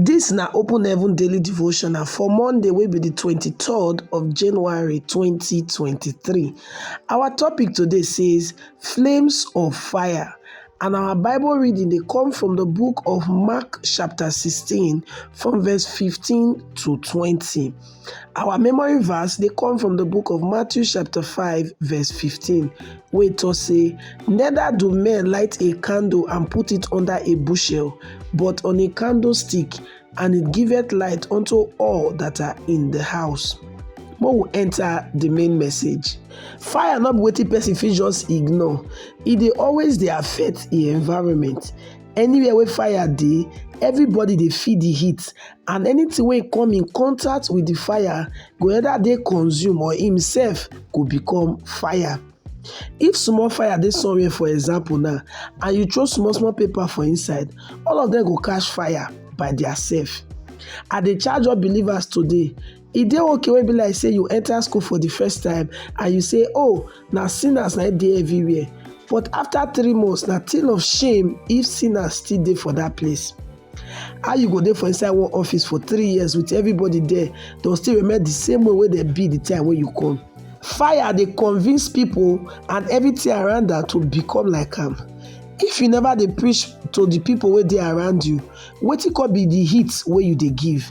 Dis na Open Heaven Daily Devotional for Monday wey be di twenty-third of January twenty twenty-three. Our topic today says flames of fire and our Bible reading dey come from the book of Mark chapter sixteen from verse fifteen to twenty. Our memory verse dey come from the book of Matthew chapter 5 verse 15 wey talk say, Neither do men light a candle and put it under a bushel, but on a candlestick, and it giveth light unto all that are in the house. Make we enter the main message. Fire no be wetin person fit just ignore. E dey always dey affect the environment. Anywhere wey fire dey, everybody dey feel the heat and anytin wey e come in contact with di fire go either dey consume or im sef go become fire. If small fire dey somewhere for example now and you throw small small paper for inside, all of dem go catch fire by their self. I dey charge all believers today E dey okay when e be like say you enter school for the first time and you say, oh, na sinners na dey everywhere. But after three months, na thing of shame if sinners still dey for that place. How you go dey for inside one office for three years with everybody there, dem still remain the same way wey dem be the time wey you come. Fire dey convince people and everything around am to become like am. If you never dey preach to the people wey dey around you, wetin come be the heat wey you dey give?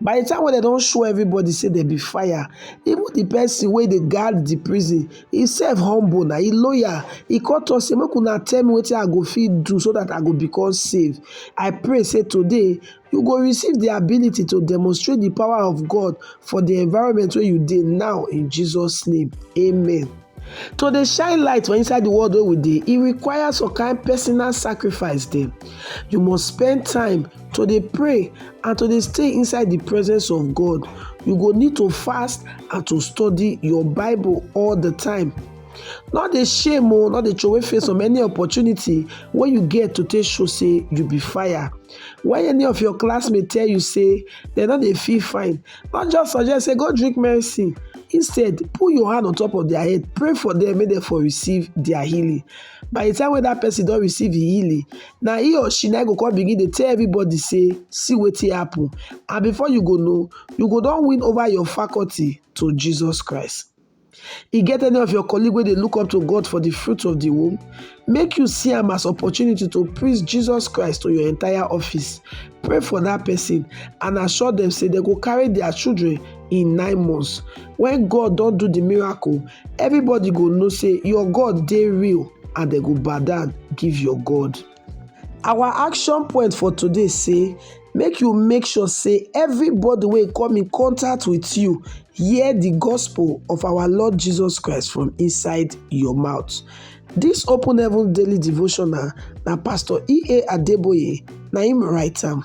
By the time wey dem don show everybody say dem be fire, even the person wey dey guard the prison, he sef humble na, he loyal. He come talk say, make una tell me wetin I go fit do so that I go become safe. I pray say today you go receive the ability to demonstrate the power of God for the environment wey you dey now in Jesus name, amen. To dey shine light for inside the world wey we dey, e require some kind personal sacrifice dem. You must spend time to dey pray and to dey stay inside the presence of God. You go need to fast and to study your Bible all the time. No dey shame o, oh, no dey throway face on any opportunity wey you get to take show say you be fire. When any of your classmates tell you say dem no dey feel fine, Don't just suggest say go drink medicine. Instead, put your hand on top of their head, pray for them, make them for receive their healing. By the time when that person don't receive the healing, now he or she now go come begin to tell everybody say, see what happen. And before you go know, you go don't win over your faculty to Jesus Christ. E get any of your colleague where they look up to God for the fruit of the womb? Make you see him as opportunity to praise Jesus Christ to your entire office. Pray for that person and assure them say they go carry their children in nine months. When God don't do the miracle, everybody go know say your God they real and they go bow down give your God. Our action point for today say make you make sure say everybody wey come in contact with you hear the gospel of our Lord Jesus Christ from inside your mouth. This Open Heaven Daily Devotional na Pastor E.A. Adeboye na him write am.